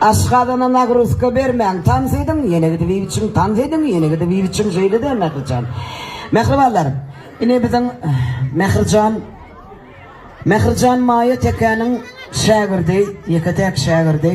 Aşgazana nagruzka bermäň tans ediň ýene gidip iýip içiň tans ediň ýene gidip iýip içiň şeýlede Mährijan Mähribanlarym ine biziň Mährijan Mährijan Maýa tekäniň şägirdi ýeke täk şägirdi.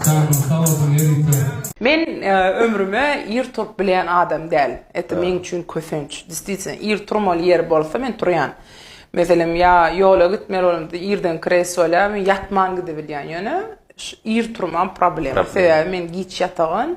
Janyň sag bolsun ýörite. Men ömrüme ir turup bilýän adam däl. Eto meň üçin kösenç. Destiwsna ir turmaly ýer bolsa men turýan. Meselem ýa ýola gitmeli bolamda irden kresolýa men ýatman gidibilýän. Ýöne ir turmam problema. Sebäbi men giç ýatagyn.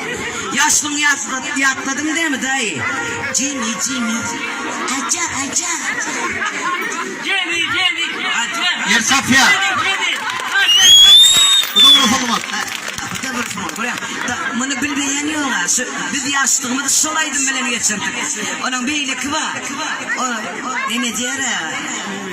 Ýaşlygyňy ýatladyň dämi daýy. Jemi jemi aja aja Jemi jemi aja Ýer çapýa. Bu dogry hormat. Muny bilmeýän ýoga. Biz ýaşlygymyzy şol aýdym bilen geçirdik. Onuň beýleki bar. Ol nenejeräga.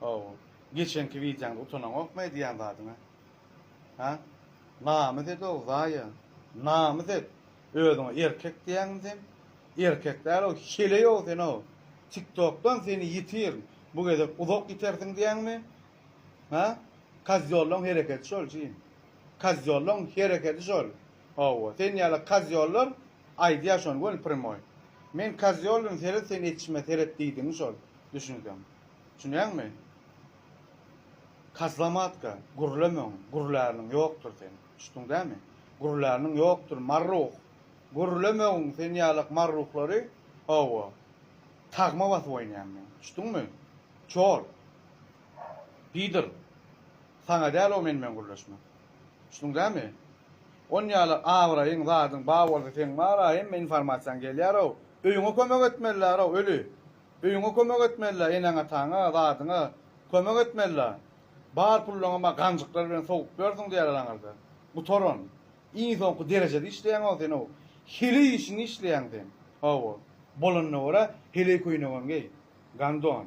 Hawa. Geçenki wideoňda utanaňokmy aýdýan zadyňa? Hä? Namys ed-ow, Zaýa. Namys et. Özüňe erkek diýýäňmi sen? Erkek däl-ow, heleý-ow sen-ow. Tiktokdan seni ýitirin. Bu gezek uzak ýitersiň diýýäňmi? Hä? Kozýollaň hereketi şol, jyn. Kozýollaň hereketi şol. Hawa, sen ýaly kozýollar aýdýar şony göni primoý. Men kozýoldym, seret sen eçime, seret diýdigiň şol. Düşünseň. Düşünýäňmi? Kazlamatka, gürlemeň, gürlärniň ýokdur sen. Düşdüň dämi? Gürlärniň ýokdur, marruh! Gürlemegin sen ýalak marruhlary, hawa, tagma basyp oýnaýan men. Düşdüňmi? Çol! Pidor! Saňa däl o men bilen gürleşmek. Düşdüň dämi? On ýalak abraýyň, zadyň bar bolsa seň bar-a hemme informasiýaň gelýär-ow. Öýüňe kömek etmeliler-ow, öli! Öýüňe kömek etmelilä eneň-ataňa, zadyňa kömek etmelilä. Bar pullaňam-a ganjyklar bilen sowup berdiň diýerler aňyrda. Gutaran. Iň soňky derejede işleýäň-ow sen-ow. Heleý işini işleýäň sen. Hawa. Bolanyna görä, heleý köýnegem geý. Gandon.